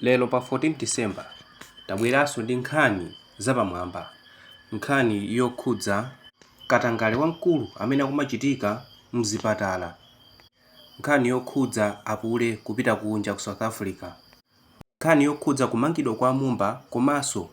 Lero pa 14 December tabweranso ndi nkhani zapamwamba, nkhani yokhudza katangale wamkulu amene akumachitika mzipatala, nkhani yokhudza apule kupita kunja ku South Africa, nkhani yokhudza kumangidwa kwa a Mumba komanso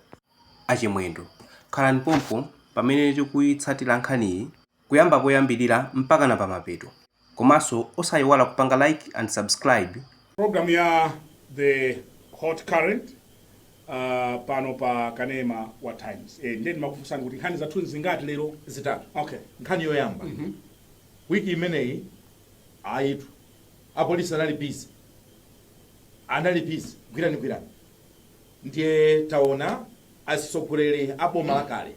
a Chimwendo. Khalani pompo pamene tikuitsatira nkhaniyi kuyamba poyambirira mpakana pamapeto komanso osayiwala kupanga like and subscribe. Program ya the hot current uh, pano pa kanema wa Times eh, ndiye ndimakufunsani kuti nkhani zathu ndi zingati lero zitatu okay nkhani yoyamba mm -hmm. wiki imeneyi ayitu apolisi anali busy anali busy gwirani gwirani ndiye taona atsogoleri a boma lakale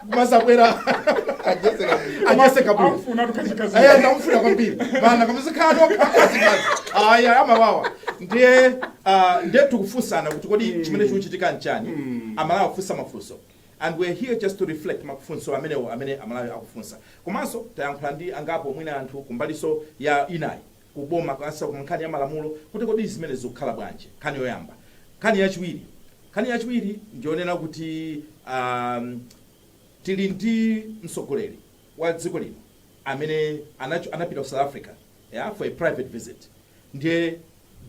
kumazabwera Ajezeka bwino. anyase kabwera Amfuna tukachikazi. aya ndamufuna kwambiri bana kamuzikhala nokha azikazi aya amawawa ndiye ah, ndiye tukufunsana kuti kodi chimene chikuchitika nchani amalawi akufunsa mafunso and we're here just to reflect mafunso amenewo amene amalawi akufunsa komanso tayankhula ndi angapo mwina anthu kumbaliso ya inayi ku boma kanso ku nkhani ya malamulo kuti kodi zimene zikukhala bwanji nkhani yoyamba nkhani yachiwiri nkhani yachiwiri ndiyonena kuti um, tili ndi mtsogoleri wa dziko lino amene anacho- anapita ku south africa yeah, for a private visit ndiye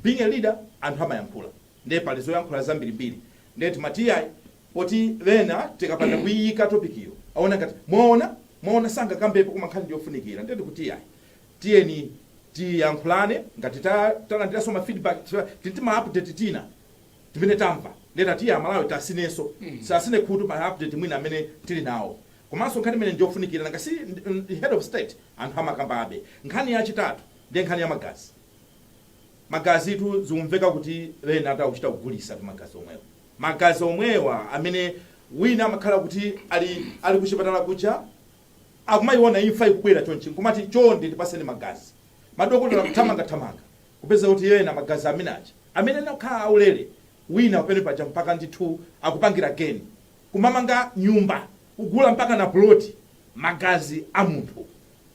being a leader anthu amayankhula ndiye pali zoyankhula zambirimbiri ndiye timati iyayi poti pena tikapanda kuyiyika topic iyo aona ngati mwaona mwaona sangakambepo koma nkhani ndiyofunikira ndiye tikuti iyayi tiyeni tiyankhulane ngati talandiranso ma feedback tili ndi ma update tina timene tamva ndiye tatiye amalawi tatsinenso tatsine khutu pa update mwina amene tili nawo komanso nkhani imene ndiyofunikira nanga si head of state anthu amakambabe nkhani yachitatu ndiye nkhani ya magazi magazi tu zikumveka kuti ena akuchita kugulisa tu magazi omwewa magazi omwewa amene wina amakhala kuti ali ali kuchipatala kuja akumayiwona imfa ikubwera chonchi nkumati chonde tipaseni magazi madokotala kuthamanga thamanga kupeza kuti ena magazi amene aja amene anakhala aulere wina pamene paja mpaka ndithu akupangira geni kumamanga nyumba kugula mpaka na plot magazi a munthu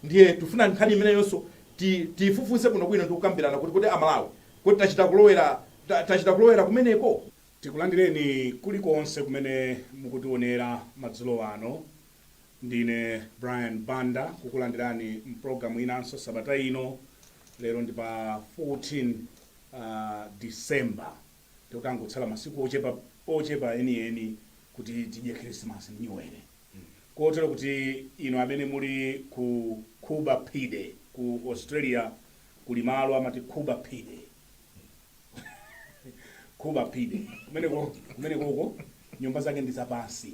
ndiye tifuna nkhani imeneyonso ti- tiyifufuze bwino bwino ndi kukambirana kuti kodi amalawi kodi tachita kulowera ta- tachita kulowera kumeneko Tikulandireni kulikonse kumene mukutiwonera madzulo ano. Ndine Brian Banda kukulandirani mpulogalamu inanso sabata ino. Lero ndi pa 14 uh, December tikutangotsala masiku ochepa, ochepa enieni kuti tidye khirisimasi ndi nyuwere kotero kuti inu amene muli ku Coober Pedy ku Australia kuli malo amati Coober Pedy Coober Pedy kumeneko kumeneko uko nyumba zake ndi zapansi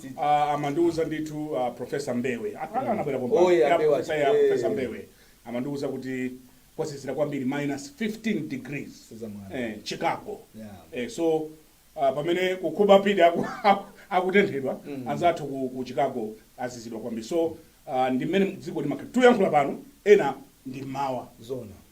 Ah, amandiuza ndithu ah, Professor Mbewe Apa anabwera pompano. Oh, yeah, Yeah, Mbewe Professor, achi- yeah, eh. Professor Mbewe amandiuza kuti kwazizira kwambiri minus 15 degrees Sizamwana. eh, Chicago Yeah. eh, so uh, pamene ku Coober Pedy aku- aku- akutenthedwa anzathu ku, ku Chicago azizidwa kwambiri so uh, ndi mmene dziko limakhala tuyankhula pano ena ndi mmawa zona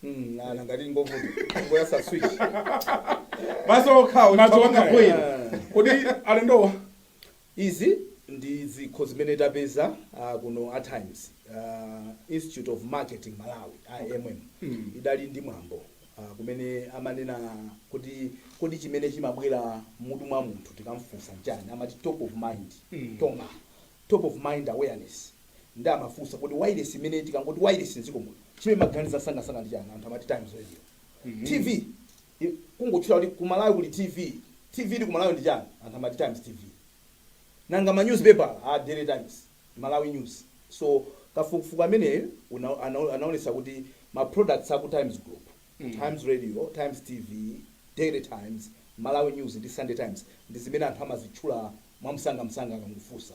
Hmm, ah, nanga tili ngovuta. Ngoyasa switch. Madzi okhawo, Madzi chifukwa okhawo. bwino. Kodi alendowa? Izi ndi zikho zimene tapeza ah, kuno at Times. ah, Institute of Marketing Malawi, IMM. Hmm. Idali ndi mwambo ah, kumene amanena kuti kodi chimene chimabwera mmutu mwa munthu tikamfunsa nchani amati top of mind Hmm. TOMA top of mind awareness nde amafunsa kuti wailesi imene tikangoti wailesi mdziko muno chimene mmaganiza msangamsanga ndi chani anthu amati times radio tv i- kungotchula kuti ku malawi kuli tv tv ili ku malawi ndi chani anthu amati times tv nanga ma newspaper a daily times malawi news so kafukufuku ameneyo una- ana- anaonesa kuti ma products aku times group times radio times tv daily times malawi news ndi sunday times ndi zimene anthu amazitchula mwamsangamsanga akangofunsa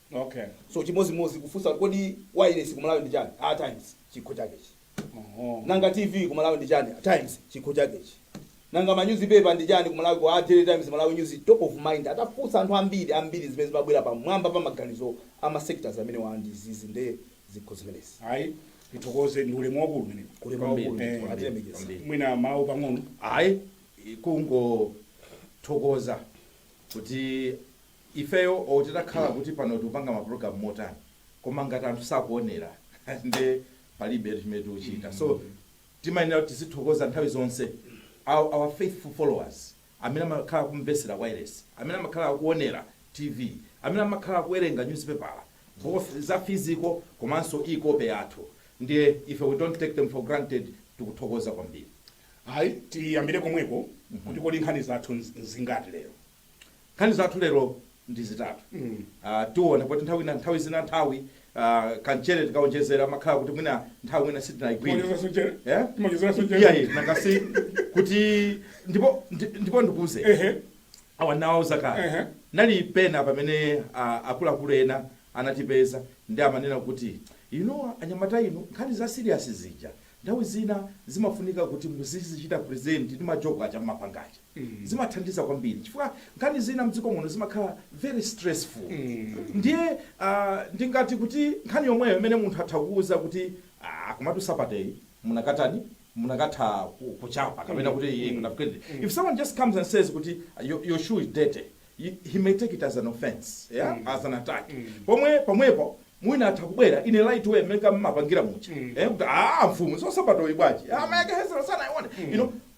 Okay. so chimozimozi kufunsa kuti kodi wireless ku malawi ndi chani a times chikho chakechi Oho. nanga tv ku malawi ndi chani times chikho chakechi nanga manyuzipepa ndi chani ku malawi ku a daily times malawi news top of mind atafunsa anthu ambiri ambiri zimene zimabwera pamwamba pa maganizo a ma sectors amenewa ndi izizi nde zikho zimenezi Ayi tithokoze ndi ulemu waukulu umenewu. Ulemu Kwambiri. waukulu Eh, kwambiri, atilemekeza kwambiri. Mwina mawu pang'ono. ayi kungothokoza kuti ifeyo or titakhala kuti pano tikupanga ma program motani koma ngati anthu sakuonera nde palibetu chimene tikuchita so timayenera kuti tizithokoza nthawi zonse our, our faithful followers amene amakhala akumvetsera wireless amene amakhala akuonera tv amene amakhala akuwerenga newspaper both za physical komanso e-copy yathu ndiye ife we don't take them for granted tikuthokoza kwambiri Ayi, tiyambire komweko kuti kodi nkhani zathu nz- nzingati lero? Nkhani zathu lero ndi zitatu. Ah, tiona kuti nthawi ina, nthawi zina nthawi ah, kamchere tikaonjezera makhala kuti mwina nthawi mwina sitinaigwire. Timaonjezera mchere? Eh? Timaonjezera mchere? Iya, iya, nangasi kuti ndipo ndi- ndipo ndikuuze. Ehe. Awa nawauza kale. Ehe. Panali pena pamene ah, akuluakulu ena anatipeza ndi amanena kuti you know anyamata inu nkhani za serious zija nthawi zina zimafunika kuti muzizichita present ndi majoko aja mmapanga aja. zimathandiza kwambiri chifukwa nkhani zina mdziko muno zimakhala very stressful ndiye ndingati kuti nkhani yomweyo imene munthu atha kukuuza kuti aah komatu Saturday mukanatani mukanatha kuchapa kapena kuti iih munapitadi if someone just comes and says kuti your your shoe is dirty he may take it as an offence yeah as an attack pomwe pomwepo mwina atha kubwera in a light way mmene mmapangira muja eh kuti aah mfumu so Sabatoyi bwanji amayakehezera sanaione you know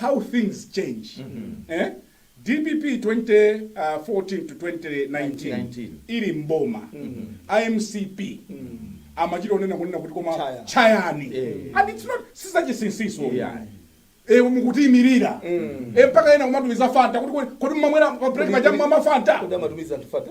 how things change eh? dpp 2014 to 2019 ili mboma a mcp amachita kunena kunena kuti koma Chaya. chayani and it's not sizachisinsiso Yeah. e mukutiimirira e mpaka ena kumatumiza fanta kuti kodi- kodi mmamwera pa break paja mmamwa fanta Kodi amatumiza anthu fanta?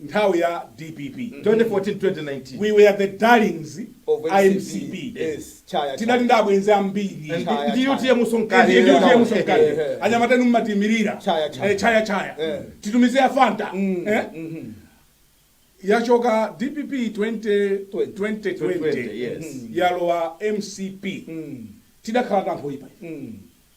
nthawi ya dpp 2014 to 2019 we were the darlings a mcp yes tinali ndi abwenzi ambiri ndi utm so mkati ndi utm so mkati anyamata inu mmatiimirira chaya chaya titumize ya fanta eh? yachoka dpp 20 2020 yalowa mcp tidakhala tanthu oyipa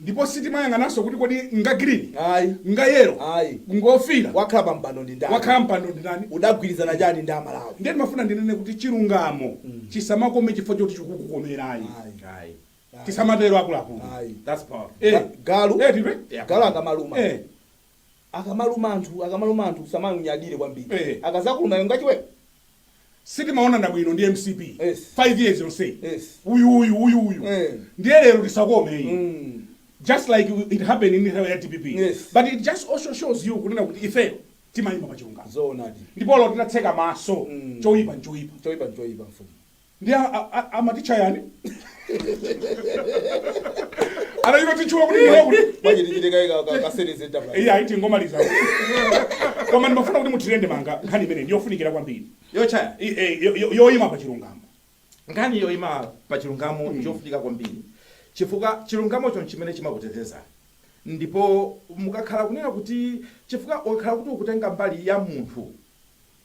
ndipo sitimayang'ananso kuti kodi nga green Ayi. nga yellow Ayi. ngofira wakhala pa mpando ndi ndani wakhala mpando ndi ndani udagwirizana chani ndi amalawi ndiye ndimafuna ndinene kuti chilungamo chisamakome chifukwa choti chikukukomerayi Ayi. Ayi. tisamatero akuluakulu Ayi. That's powerful. Eh. Ga- galu Eh, tipe? Yeah. galu akamaluma Eh. akamaluma anthu akamaluma anthu usamaunyadire kwambiri Eh. akazakuluma iwe ngachiwewe sitimaonana bwino ndi mcp Yes. 5 years yonseyi Yes. uyu uyu uyu uyu Eh. ndiye lero tisakome iyi Mm. just like it happened in nthawi ya dpp Yes. but it just also shows you kunena kuti ifeyo timayima pa chilungamo zoonadi ndipo ife tinatseka maso Mm. choyipa nchoyipa choyipa nchoyipa mfumu ndiye a- a- a- amatitcha yani anachita titchuwa kuti moyo kuti Manje tichite kaye ka- ka- ka series enterprise. iye aiti ngomaliza koma ndimafuna kuti mutirende manga nkhani imene ndiyofunikira kwambiri yochaya I- eh, yo- yo- yoyima pa chilungamo nkhani yoyima pa chilungamo njofunika kwambiri chifukwa chilungamocho nchimene chimakuteteza ndipo mukakhala kunena kuti chifukwa ukakhala kuti ukutenga mbali ya munthu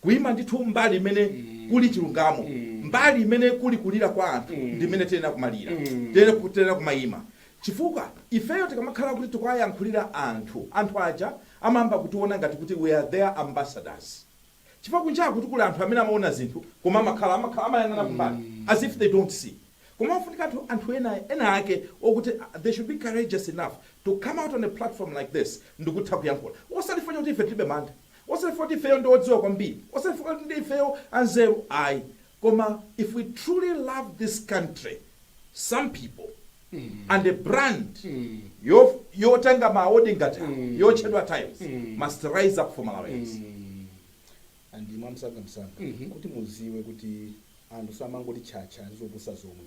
Kuima ndithu mbali imene kuli chilungamo, mbali imene kuli kulira kwa anthu ndi imene tiyenera kumalira. Tiyenera tiyenera kumaima chifukwa ifeyo tikamakhala kuti tikuwayankhulira anthu, anthu aja amayamba kutiona ngati kuti we are their ambassadors. Chifukwa kunjaku tu kuli anthu amene amaona zinthu koma amayang'ana kumbali as if they don't see. Koma ofunikatu anthu ena ake okuti they should be courageous enough to come out on a platform like this ndikutha kuyankhula. Osati chifukwa chakuti ife tilibe mantha. osati chifukwa kuti ifeyo ndi odziwa kwambiri, osati chifukwa kuti ifeyo anzeru ayi, koma if we truly love this country, some people and a brand yof- yotenga ma award ngati awa, yotchedwa Times must rise up for Malawians. and mwamsangamsanga kuti muziwe kuti anthu samangoti tchatcha ndi zopusa zomwe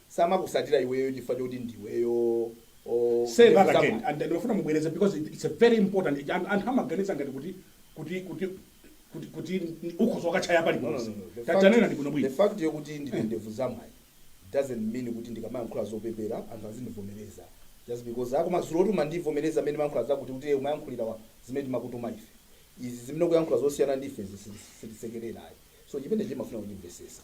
samakusatila iweyo chifukwa choti ndiweyo or say ndevu that again zamunthu. and ndimafuna mubwereze because it- it's a very important anthu- anthu amaganiza ngati kuti kuti kuti kuti kuti ni- ukhoza kutchaya No, no, paliponse no, no. The Ta- fact- tanena bwino the bwino fact yokuti ndine ndevu zamwayi doesn't mean kuti ndikamayankhula zopepera anthu azindivomereza just because akumadziwa kuti amandivomereza pamene ndimayankhula zakuti kuti umayankhulira wa- zimene timakutuma ife izi zimene kuyankhula zosiyana ndi ife zisi- sitisekerera ayi so chimene timafuna kuchimvesesa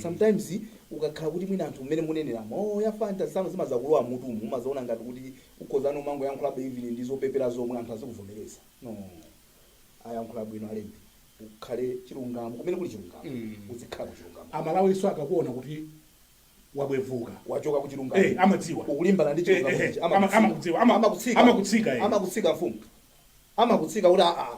sometimes ukakhala kuti mwina anthu mmene munenera mo ya fans zanu zimazakulowa m'mutumu umazaona ngati kuti ukhozano kumangoyankhula even ndi zopepera zomwe anthu azikuvomereza no ayankhula bwino alembi ukhale chilungamo kumene kuli chilungamo Mm. uzikhala ku chilungamo Amalawiso akakuona kuti wabwevuka wachoka ku chilungamo Eh, amadziwa. ukulimbana ndi Eh, chilungamo eh, ichi, eh, ama- amakudziwa. amakudziwa, ama- amakutsika amakutsika, eh. amakutsika mfumu amakutsika kuti aa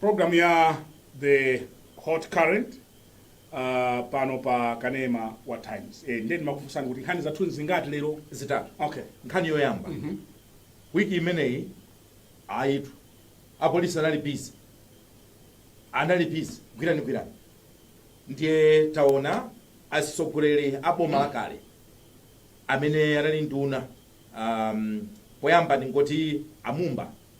program ya the hot current uh, pano pa kanema wa times e, ndiye ndimakufunsani kuti nkhani zathu zingati lero zitatu okay nkhani yoyamba wiki imeneyi ayitu apolisi anali bizi anali bizi gwirani gwirani ndiye taona azitsogoleri a boma lakale amene anali nduna um, poyamba ndingoti amumba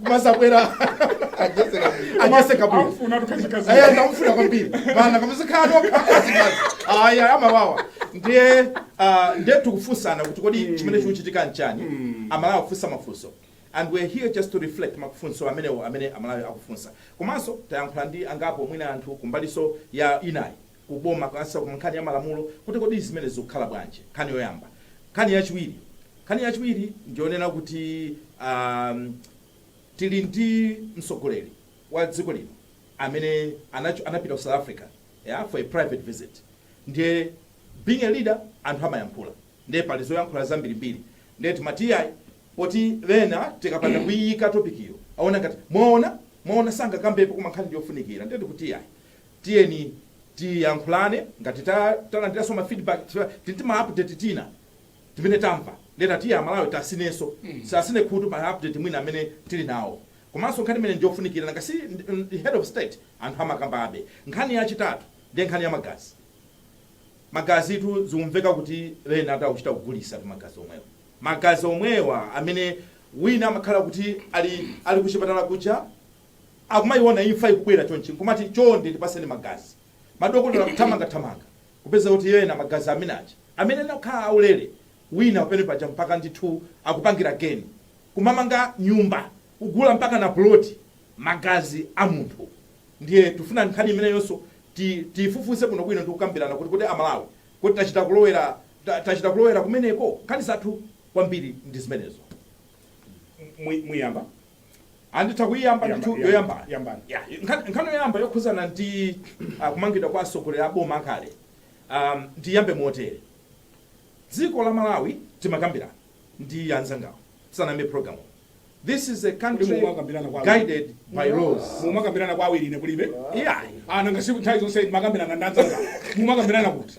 mazabwera Ajezera bwino. anyase kabwira Amfuna tukachikazi. aya ndamufuna kwambiri vana kamuzikano akazikazi aya amawawa ndiye ah, ndiye tikufunsana kuti kodi chimene chikuchitika nchani amalawi akufunsa mafunso and we're here just to reflect mafunso amenewo amene amalawi akufunsa komanso tayankhula ndi angapo mwina anthu kumbaliso inayi ku boma kansa ku nkhani ya malamulo kuti kodi zimenezi zikukhala bwanji nkhani yoyamba nkhani yachiwiri nkhani yachiwiri ndiyonena kuti um, tili ndi mtsogoleri wa dziko lino amene anacho- anapita ku south africa yeah, for a private visit ndiye being a leader anthu amayankhula ndiye pali zoyankhula zambirimbiri ndiye timati iyayi poti ena tikapanda kuyiyika topikiyo aona ngati mwaona mwaona sangakambepo koma nkhani ndiyofunikira ndiye tikuti iyayi tiyeni tiyankhulane ngati talandilanso ma feedback chifukwa tili ndi ma update tina timene tamva ndiye tati iyayi amalawi tasinenso asine khutu ma update mwina amene tili nawo komanso nkhani imene ndiyofunikira nanga si head of state anthu amakambabe nkhani yachitatu ndiye nkhani ya magazi magazitu zikumveka kuti ena akuchita kugulisatu magazi omwewa magazi omwewa amene wina amakhala kuti ali ali kuchipatala kuja Akumayiwona imfa ikubwera chonchi nkumati chonde tipaseni magazi. Madokotala akuthamanga thamanga kupeza kuti ena magazi amene aja amene anakhala aulere wina pamene paja mpaka ndithu akupangira geni. Kumamanga nyumba kugula mpakana puloti magazi a munthu. Ndiye tikufuna nkhani imeneyonso ti tiyifufuze bwino bwino ndi kukambirana kuti kodi a Malawi kuti tachita kulowera ta tachita kulowera kumeneko? Nkhani zathu kwambiri ndi zimenezo. Mu muyamba Anditha kuyiyamba Yamba- ndithu yamba- yoyambayo. yambani. Ya, nkhan- Nkhani yoyamba yokhuzana ndi ah, kumangidwa kwa atsogoleri a boma akale. Um, ndiyambe motere. Dziko la Malawi timakambirana ndi anzangawo. Tisanayambe program. This is a country Kodi mumakambirana kwa- guided by laws. mumakambirana kwa awiri ine kulibe Yeah. a nanga si nthawi zonse makambirana ndanzanga mumakambirana kuti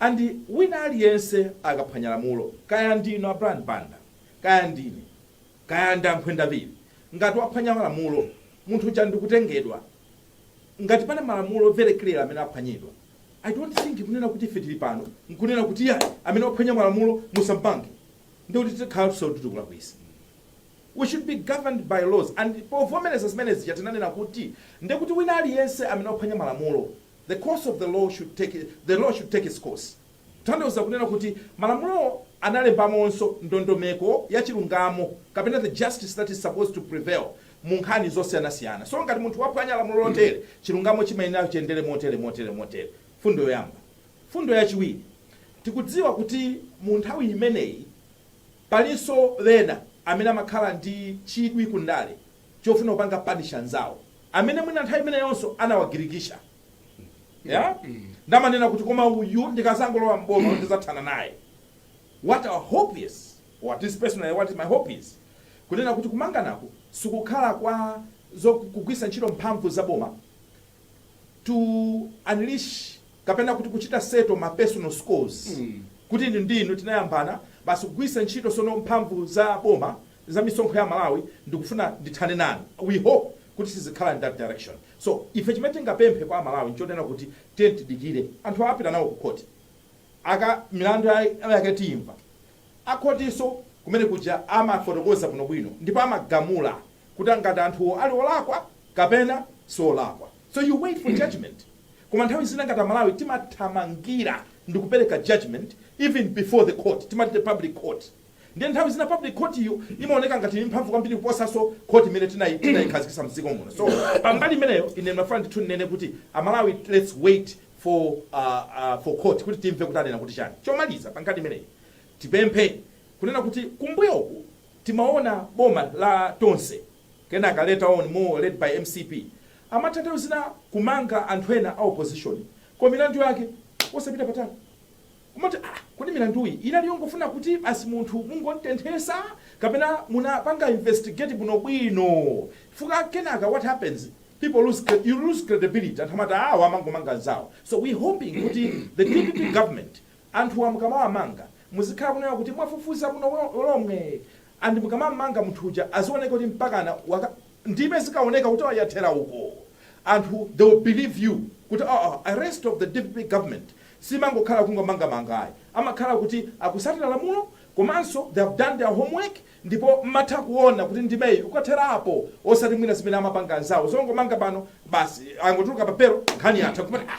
And wina aliyense akaphwanya lamulo kaya ndinu a Brian Banda kaya ndine kaya ndi a Nkhwendamili ngati waphwanya lamulo munthu uja ndikutengedwa ngati pali malamulo very clear amene aphwanyidwa I don't think kunena kuti ife tili pano nkunena kuti iyayi amene waphwanya malamulo musammange ndekuti tikhalanso kuti tikulakwisa We should be governed by laws and povomereza zimene zija tinanena kuti ndekuti wina aliyense amene waphwanya malamulo The course of the law should take the law should take its course kutanthauza kunena kuti malamulowo analembamonso ndondomeko ya chilungamo kapena the justice that is supposed to prevail mu nkhani zosiyanasiyana. So ngati munthu waphwanya lamulo lotere, chilungamo chimayenera chiyendere motere, motere, motere. Mfundo yoyamba. Mfundo yachiwiri, tikudziwa kuti mu nthawi imeneyi palinso ena amene amakhala ndi chidwi ku ndale chofuna kupanga punish anzawo amene mwina nthawi imeneyonso anawagirigisha yeah? ndamanena kuti koma uyu ndikazangolowa mboma ndizathana naye what our hope is or at least personally what my hope is kunena kuti kumanganaku sikukhala kwa kugwisa ntchito mphamvu za boma to unleash kapena kuti kuchita settle ma personal scores kuti inu ndi inu tinayambana basi kugwiritsa ntchito sono mphamvu za boma za misonkho ya Malawi ndikufuna ndithane nanu. We hope kuti sizikhala in that direction. So ife chimene tingapemphe kwa Amalawi nchonena kuti tiyeni tidikire. Anthu awa apita nawo ku khoti. Aka milandu ya- yake tiyimva. A khotiso kumene kuja amafotokoza bwinobwino ndipo amagamula kuti ngati anthuwo ali olakwa kapena si olakwa. So you wait for judgement koma nthawi zina ngati amalawi timathamangira ndikupereka judgement even before the court timati the public court ndiye nthawi zina public court iyo imaoneka ngati ili mphamvu kwambiri kuposanso court imene tinai- tinaikhazikisa mdziko muno so pambali imeneyo ine ndimafuna ndithu ndinene kuti amalawi let's wait for uh, uh, for court kuti timve kuti anena kuti chani chomaliza pankhani imeneyi tipemphe kunena kuti kumbuyoku timaona boma la tonse Kenaka later on more led by mcp amatha nthawi zina kumanga anthu ena a opposition koma milandu yake osapita patali kumati aah kodi milanduyi inali yongofuna kuti basi munthu mungontenthesa kapena munapanga investigate bwinobwino chifukwa kenaka what happens people lose cre- you lose credibility anthu amati awa amangomanga anzawo so we hoping kuti the dpp government anthuwa mukamawamanga muzikhala kunena kuti mwafufuza bwino lo- lomwe and mukamamanga munthu uja azioneka kuti mpakana waka ndime zikaoneka kuti oh yathera uko anthu they will believe you kuti oh arrest of the dpp government simangokhala kungomangamanga ayi amakhala kuti akusatira lamulo komanso they have done their homework ndipo mmatha kuona kuti ndimeyi ukathera apo osati mwina zimene amapanga anzawo zongomanga pano basi angotuluka pa belo nkhani yatha kumati ah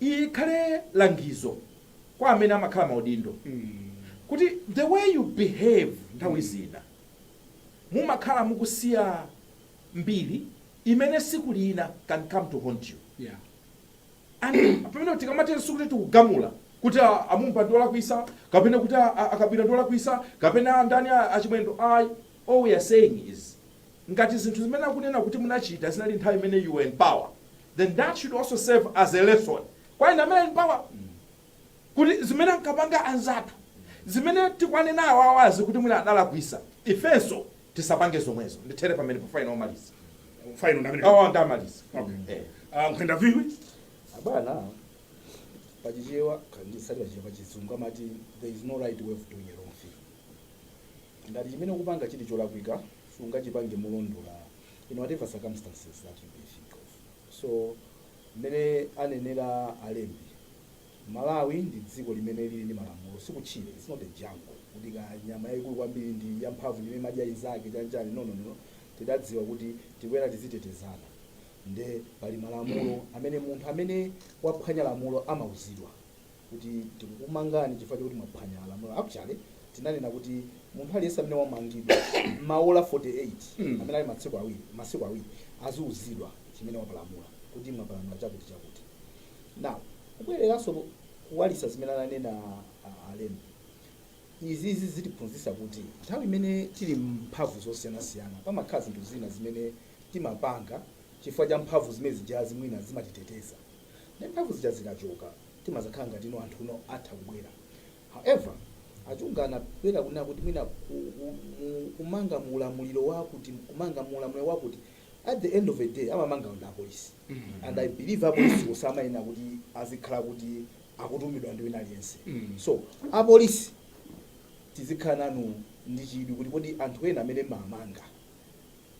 Iyi ikhale langizo kwa amene amakhala maudindo kuti the way you behave nthawi zina mumakhala mukusiya mbiri imene tsiku lina can come to haunt you Yeah. and pamene tikamatero sikuti tikugamula kuti a- a Mumba ndi olakwisa kapena kuti a- a- a Kabwila ndi olakwisa kapena ndani a- a Chimwendo ayi all we are saying is Ngati zinthu zimene akunena kuti munachita zinali nthawi imene you were in power then that should also serve as a lesson kwa ena amene ali in power kuti zimene ankapanga anzathu zimene tikuwanena awawazi kuti mwina adalakwisa ifenso tisapange zomwezo ndithere pamenepo final omaliza Final ndamene. awa ndamaliza Okay. Eh. Ah, nkhwenda viwi. abana pachichewa kandisati pachichewa pachizungu amati there is no right way of doing a wrong thing Ngati chimene ukupanga chili cholakwika sungachipange molondola in whatever circumstances that you may think of. So mmene anenera alembi Malawi ndi dziko limene lili ndi malamulo sikutchire it's not a jungle kuti kaya nyama yayikulu kwambiri ndi yamphamvu ndi imene imadya inzake chani chani no no no tidadziwa kuti tikuyenera tizitetezana nde pali malamulo amene munthu amene waphwanya lamulo amauzidwa. kuti tikukumangani chifukwa chokuti mwaphwanya lamulo. Actually tinanena kuti munthu aliyense amene wamangidwa m'maola 48 Mm. amene ali masiku awiri, masiku awiri aziuzidwa chimene wapalamula kuti mwapalamula chakuti chakuti. Now kubwereranso ku- kuwalisa zimene ananena ah, alembi izizi zitiphunzitsa kuti nthawi imene tili mphamvu zosiyanasiyana pamakhala zinthu zina zimene timapanga chifukwa cha mphamvu zimene zijazi mwina zimatiteteza ndi mphamvu zija zikachoka timazakhala ngati no anthu no atha kubwera however achunga anabwera kunena kuti mwina ku, ku, mu, kumanga mu ulamuliro wakuti kumanga mu ulamuliro wakuti at the end of the day amamanga ndi apolisi and i believe apolisi osamayenera kuti azikhala kuti akutumidwa ndi wina aliyense so apolisi tizikhala nanu ndi chidwi kuti kodi anthu ena amene mumamanga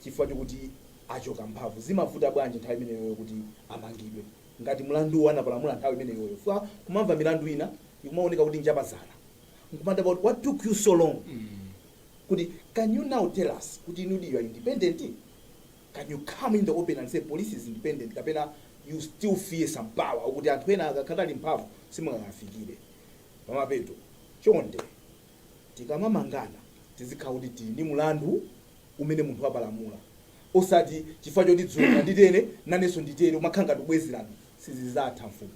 chifukwa chokuti achoka mphamvu zimavuta bwanji nthawi imeneyo kuti amangidwe Ngati mlanduwo anapalamula nthawi imeneyoyo chifukwa kumamva milandu ina ikumawoneka kuti njapazana nkumadabwa kuti what took you so long kuti can you now tell us kuti inudi you are independent? Can you come in the open and say police is independent kapena you still fear some power ukuti anthu ena akakhala ali mphamvu simungawafikire pamapeto? Chonde. Tikamamangana tizikhala kuti tili ndi mlandu umene munthu wapalamula osati chifukwa choti dzulo unanditere nanenso nditere umakhala ngati ubwezerano. Sizizatha mfumu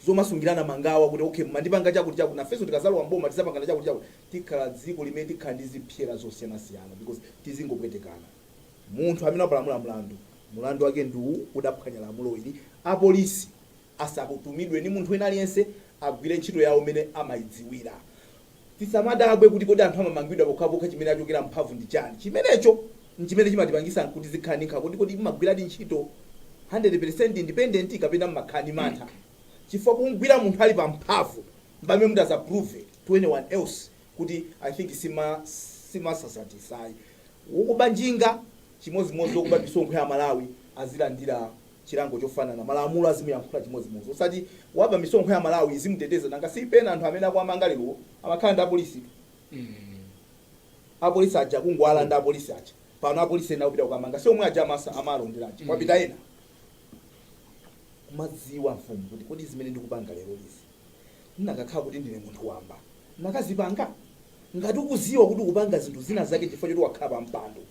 zomasungirana mangawa kuti okay mumandipanga chakuti chakuti nafenso tikazalowa m'boma tizapangana chakuti chakuti tikhala dziko limene tikhala ndi zipsera zosiyanasiyana because tizingopwetekana. Munthu amene wapalamula mlandu, mlandu wake ndi uwu udaphwanya lamulo ili apolisi. asakutumidwe ndi munthu wina aliyense, agwire ntchito yawo mmene amaidziwira. Tisamadabwe kuti kodi anthu amamangidwa pokhapokha chimene achokera m'mphamvu ndi chani. Chimenecho n'chimene chimatipangisa anthu kuti tizikhala ndi nkhawa kuti kodi m'magwiradi ntchito 100 peresenti independent kapena m'makhala ndi mantha chifukwa kumgwira munthu ali pa mphamvu mpamene mutazaprove to anyone else kuti I think simasankha ayi. Wokuba njinga chimodzimodzi wokuba misonkho ya Amalawi azilandira chilango chofanana, malamulo azimuyankhula chimodzimodzi osati waba misonkho ya aMalawi lizimuteteza nanga si pena anthu amene akuwamanga lerowo amakhala ndi apolisitu apolisi aja kungowalanda apolisi aja pano apolisi ena akupita kukamanga si omwe aja ama- amalondera aja kwapita ena kumadzifunsa kuti kodi zimene ndikupanga lero izi ndinakakhala kuti ndine munthu wamba ndikadazipanga ngati ukuziwa kuti ukupanga zinthu zina zake chifukwa choti wakhala pa mpando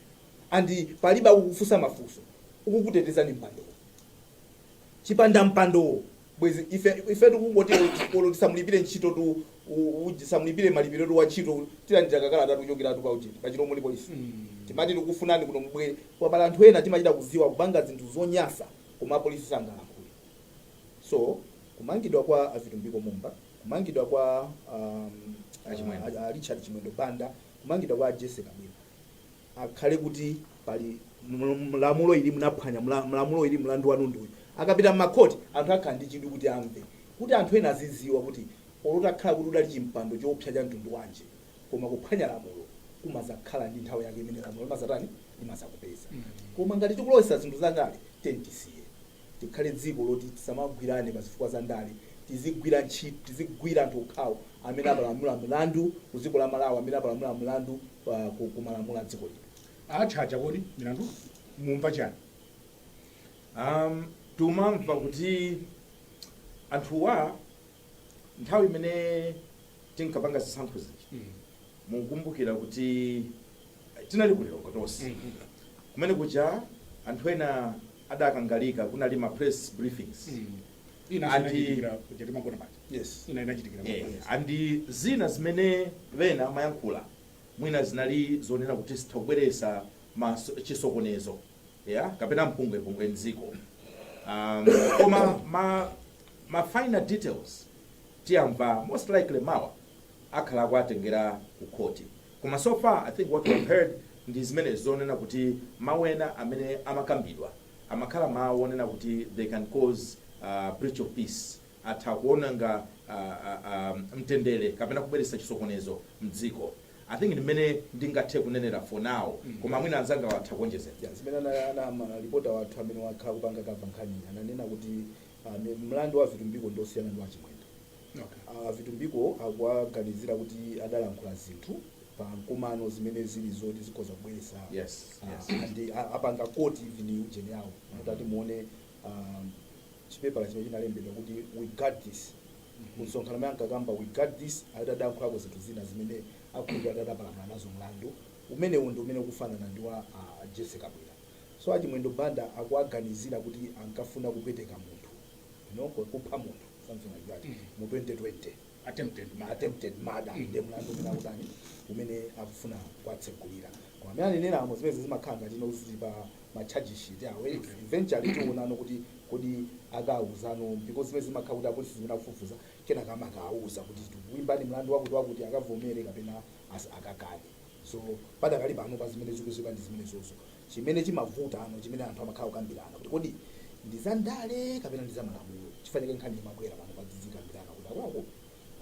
and palibe akukufusa mafunso ukukuteteza ndi mpandowo chipanda mpandowo bwezi ife ifetu kungoti olo tisamulipire ntchito tu u- u- tisamulipire malipiro tu wa ntchito tilandira kakalata tuchokera tu pa uchiti pa Chirimba apolisi amati tikufunani kuno mubwere koma pali anthu ena timachita kuziwa kupanga zinthu zonyasa koma apolisi sangalankhule so kumangidwa kwa a Vitumbiko Mumba kumangidwa kwa um, a Chimwendo. a- a Richard Chimwendo Banda kumangidwa kwa Jessie Kabwila akhale kuti pali ml- lamulo ili mnaphwanya mla- mlamulo ili mlandu wanu ndi uyu akapita m'makhoti anthu akhala ndi chidwi kuti amve kuti anthu ena aziziwa kuti olo utakhala kuti udali pa chimpando choopsa cha mtundu wanji koma kuphwanya lamulo kumazakhala ndi nthawi yake imene lamulo limazatani limazakupeza koma ngati tikulowesa zinthu zandale then tisiye tikhale dziko loti tisamagwirane pa zifukwa za ndale tizigwira ntchito tizigwira anthu okhawo amene apalamula mlandu ku dziko la Malawi amene apalamula mlandu pa ku, ku malamulo a dziko lino Awachaja kodi milandu mumva chani um, tumamva kuti anthuwa nthawi imene tinkapanga zisankho zija mukumbukira kuti tinali ku Lilongwe tonse kumene kuja anthu ena adakangalika kunali ma press briefings ina Andi- zinachitikira kuja timagona paja yes ina inachitikira Eh, mabwana. andi zina zimene ena amayankhula mwina zinali zonena kuti zitha kubweresa maso- chisokonezo ya kapena mpungwepungwe mdziko um, koma ma, ma final details tiyamva most likely mawa akhala akuwatengera ku khoti koma so far i think what we've heard ndi zimene zonena kuti mawu ena amene amakambidwa amakhala mawu onena kuti they can cause a breach of peace, atha kuonanga a, a, a, mtendere kapena kubweretsa chisokonezo mdziko. I think ndi mmene ndingathe kunenera for now koma mwina anzangawa atha kuonjezera. Ya, zimene ana, ana ma reporter wathu amene wakhala akupanga cover nkhaniyi ananena kuti ah, mi- mlandu wa Vitumbiko ndi osiyana ndi wa Chimwendo. Okay. A Vitumbiko akuwaganizira kuti adalankhula zinthu pa mkumano zimene zili zoti zikhoza kubweretsa Yes, ah, yes. and a- apanga quote even ujeni yawo mutati muone um, chipepala chimene chinalembedwa kuti we got this kumsonkhano omwe ankakamba we got this adalankhulako zinthu zina zimene akhulupira kuti adapalamula nazo mlandu umenewu ndi umene ukufanana ndi wa ah, Jessie Kabwila so achimwendo banda akuwaganizira kuti ankafuna kupweteka munthu Olo kupha munthu something like that mu 2020 attempted murder, attempted murder. Mm. Nde mlandu umene akutani umene akufuna kuwatsegulira koma amene aneneramo zimenezi zimakhala ngati ino zili pa ma charge sheet awo eh, Okay. eventually tiwonano kuti kodi akawuzano because zimenezi zimakhala kuti apolisi zimene akufufuza kenaka amakawuza kuti tikuimbani mlandu wakuti wakuti akavomere kapena as- akakane So, padakali pano pa zimene tikuziwa ndi zimenezozo. Chimene chimavutano chimene anthu amakhala kukambirana kuti kodi ndi za ndale kapena ndi za malamulo. Chifukwa chake nkhani zimabwera pano pa tidzikambirana kuti akuluakulu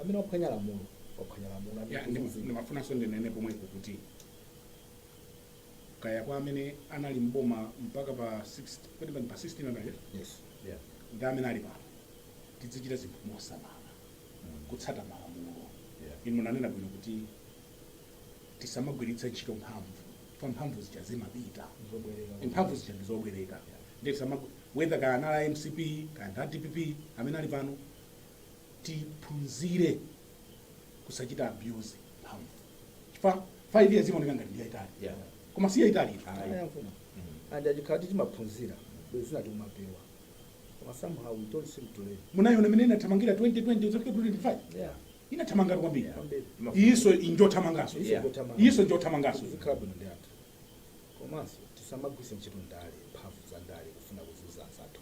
amene waphwanya lamulo waphwanya lamulo amene Ya, ndi- kuzizi. ndimafunanso ndinene pomwepo kuti kaya kwa amene anali mboma mpaka pa 16 kodi pano pa 16 anayo Yes. Yeah. ndi amene ali pano tidzichita zinthu mosamala kutsata malamulo Yeah. inu munanena bwino kuti tisamagwiritse ntchito mphamvu chifukwa mphamvu zija zimapita Zobwereka. mphamvu zija ndi zobwereka ndiye tisamagu- whether kaya anali a mcp kaya ndi a dpp amene ali pano tiphunzire kusachita abuse mphamvu chifukwa 5 years imaoneka ngati ndi yaitali Yeah. koma si yaitali Ayankho. and achikhala kuti timaphunzira bwenzi zina timapewa koma somehow we don't seem to learn munayiona mmene inathamangira 2020 kuzafika 2025 yeah Inathamangatu kwambiri Yeah, kwambiri. Imafuna- iyinso njothamanganso Iyinso yeah. njothamanga. iyinso njothamanganso Tizikhala bwino ndi anthu. Komanso tisamagwiritse ntchito ndale, mphamvu za ndale kufuna kuzuza anzathu.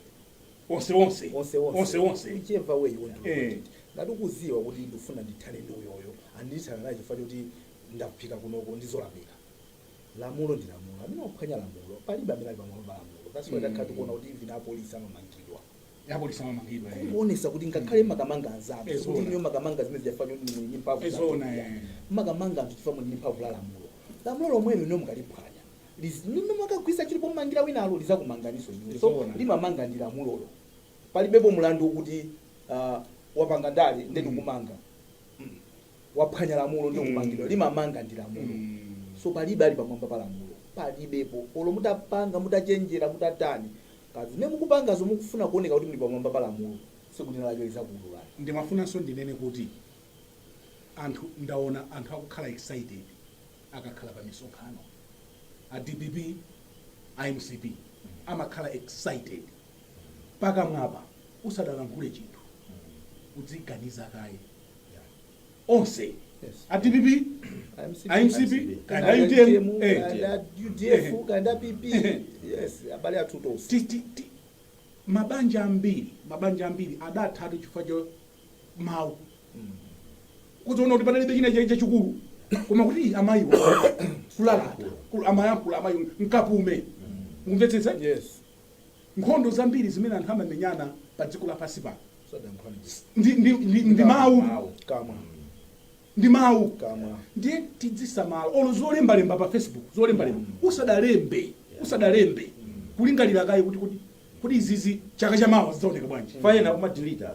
onse onse Onse onse. onse onse Whichever way you want to look Eh. at it. Ngati ukuziwa kuti ndifuna ndithane ndi uyoyo, ah ndithana naye chifukwa choti ndafika kunoko ndizolakwika. Lamulo ndi lamulo. Amene waphwanya lamulo, palibe amene ali pamwamba pa lamulo. That's why Mm. takhala tikuona kuti even apolisi amamangidwa. apolisi amamangidwa eh. kungoonesa kuti ngakhale mumakamanga anzanu Eh, sikuti zoona. inuyo mumakamanga zimene zija chifukwa choti muli ndi mphamvu Eh, za zoona, kuya. eh. mumakamanga anthu chifukwa muli ndi mphamvu la lamulo lamulo lomwelo inuyo mukaliphwanya Liz- limene mumakagwiritsa ntchito pomangira winalo lizakumanganiso inuyo so Zoona. limamanga ndi lamulolo palibepo mulandu wokuti ah, wapanga ndale nde ndikumanga waphwanya lamulo ndikumangidwa Mm. limamanga ndi lamulo Mm. so palibe ali pamwamba pa lamulo palibepo olo mutapanga mutachenjera mutatani ngati zimene mukupangazo mukufuna kuoneka kuti muli pamwamba pa lamulo siku lina lake lizakuululani ndimafunanso ndinene kuti anthu ndaona anthu akukhala excited akakhala pa misonkhano a dpp a mcp amakhala excited pakamwapa usanalankhule chinthu udziganiza kaye onse a dpp a mcp kaya a utm eh, udf kaya pp yes abale athu tonse ti- ti- ti- mabanja ambiri mabanja ambiri adathatu chifukwa cha mawu kuziona kuti panalibe china chai chachikulu koma kuti amayiwo kulalata kul- amayankhula amayi mkapume mukumvetsetsa yes Nkhondo zambiri zimene anthu amamenyana pa dziko lapansi pano ndi, ndi, ndi, ndi mawu kamwa ndi mawu kamwa ndiye tidzisamala olo zolembalemba pa facebook zolembalemba usanalembe usanalembe kulingalira kaye kuti kuti kuti izizi chaka chamawa zidzaoneka bwanji fayena kumadilita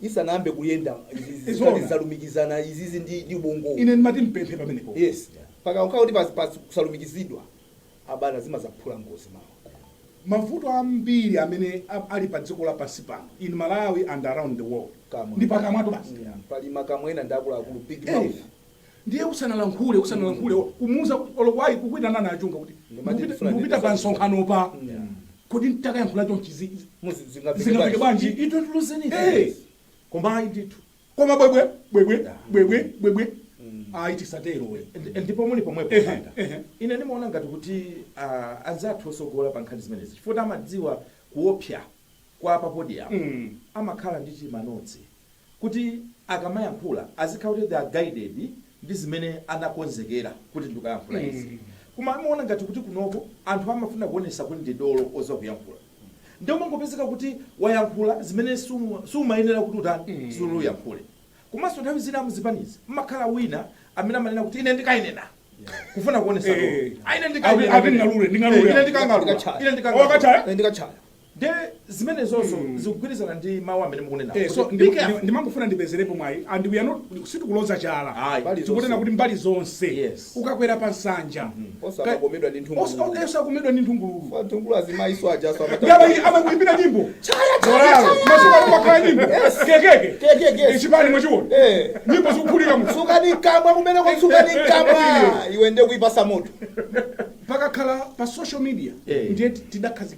isanayambe kuyenda izi zikhala Zoona. zalumikizana izizi ndi ndi ubongowo ine ndimati mpemphe pamenepo yes pakakhala kuti pas- pas- kusalumikizidwa apa nazi zimazaphula ngozi mawa mavuto ambiri amene a- ali pa dziko lapansi pano in malawi and around the world Kamwa. ndi pakamwato basi Yeah, pali makamwa ena ndi akuluakulu big Eh, mouth Ndiye usanalankhule, usanalankhule, o, kumuza, olo ku, ayi, kukuitanani achunga kuti mukupita, mukupita pa msonkhanopo. Kodi ntakayankhula chonchi zi, zi, zingamveke bwanji? You don't lose anything. Hey! Koma ayi ndithu. Koma bwebwe, bwebwe, bwebwe, bwebwe, ayi tisatero we. Ndi- ndipo muli pomwepo Ehe, manda ehe. ine ndimaona ngati kuti ah, anzathu osogola pa nkhani zimenezi chifukwa amadziwa kuopsa kwa pa podium amakhala ndi tima notes kuti akamayankhula azikhala kuti they are guided ndi zimene anakonzekera kuti ndikayankhula izi koma ndimaona ngati kuti kunoko anthu amafuna kuonesa kuti ndi dolo oziwa kuyankhula nde umangopezeka kuti wayankhula zimene suma- sumayenera kuti utani suli uyankhule komanso nthawi zina muzipanizi mmakhala wina amene amanena kuti ine ndikainena kufuna kuonesa dolo Eh. Ah, ine ndikainena Ati- ati ndingalule, ndingalule. Eh, ine ndikangalula Ndikachaya. ine ndikangalula Wakachaya? Eh, ndikachaya nde zimenezozo zikugwirizana ndi mawu amene mukunena Eh, so Kuti ndi- be careful. ndi- ndimangofuna ndipezerepo mwayi and we are not sitikuloza chala Ayi. tikunena kuti mbali zonse Yes. ukakwera pa nsanja Osa Ka- osakomedwa ndi nthungululu. Osa- osakomedwa ndi nthungululu Kwa nthungulu azimayinso ajanso amata- Ngaba iyi amakuimbira nyimbo Zoraro. masuku ali kwakhala nyimbo kekeke Kekeke. chipani mwachiona Eh. nyimbo zikuphulika mu Tsukani kamwa kumene kwa tsukani kamwa. Iwe nde kuipasa moto. pakakhala pa social media Yeah. ndiye tidakhazikika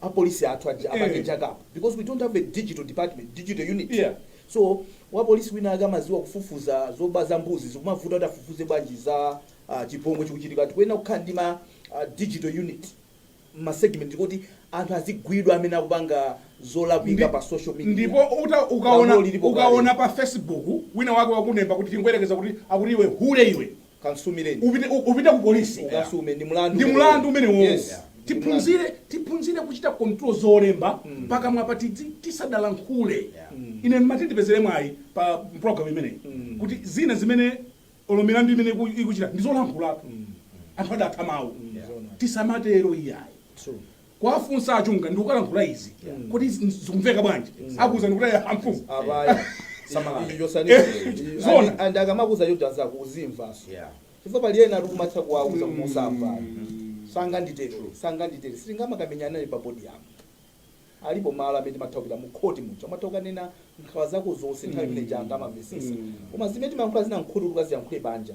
a police athu aja apange Eh. jack up because we don't have a digital department digital unit Yeah. so wa police wina ake amaziwa kufufuza zoba za mbuzi zikumuvuta kuti afufuze bwanji za uh, chipongwe chikuchitika tikuyenera kukhala ndi ma uh, digital unit ma segment kuti anthu azigwidwa amene akupanga zolakwika pa social media ndipo uta- ukaona Lamulo lilipo kale. ukaona pa facebook wina wake wakulemba kuti tingoyerekeza kuti akuti iwe hule iwe Kansumireni upite upite ku police ukasume ndi mulandu ndi mulandu umenewo yes tiphunzire tiphunzire kuchita control zolemba mm. pakamwa pati tisadalankhule yeah. mm. ine mmati ndipezere mwayi pa program imeneyi mm. kuti zina zimene olo milandu imene ikuchita ndizolankhulatu mm. anthu adatha mawu mm. yeah. tisamatero iyayi kuwafunsa a Chunga ndikukalankhula izi kuti zikumveka bwanji akuuzani kuti a mfumu abaya Samalani. icho chosani Eh, icho. zona. Andi- andi akamakuza chocho anzako uzimvaso Yeah. chifukwa pali ena ali kumatha kuwauza kumusamba sanganditere sanganditere sitingamakamenyana naye pa podium alipo malo amene timatha kupita mu khoti muja umatha ukanena nkhawa zako zonse nthawi imene janga amamvesesa koma zimene timayankhula zina mkhutu tikaziyankhule banja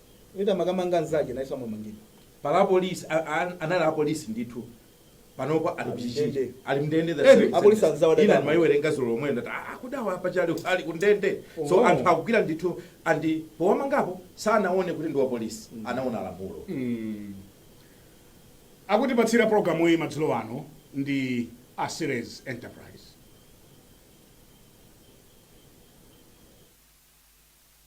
Wina amakamanga mzake nayeso amamangidwa. Pali a police anali a police ndithu panopa ali kuchichiri ali mndende the same sentence ina ndimaiwerenga zulo lomwelo ndati aa kodi awa paja ali ali kundende so anthu akugwira ndithu and powamangapo sanaone kuti ndi wa police anaona lamulo. Akutipatsira programu iyi madzulo ano ndi a Ceres Enterprise.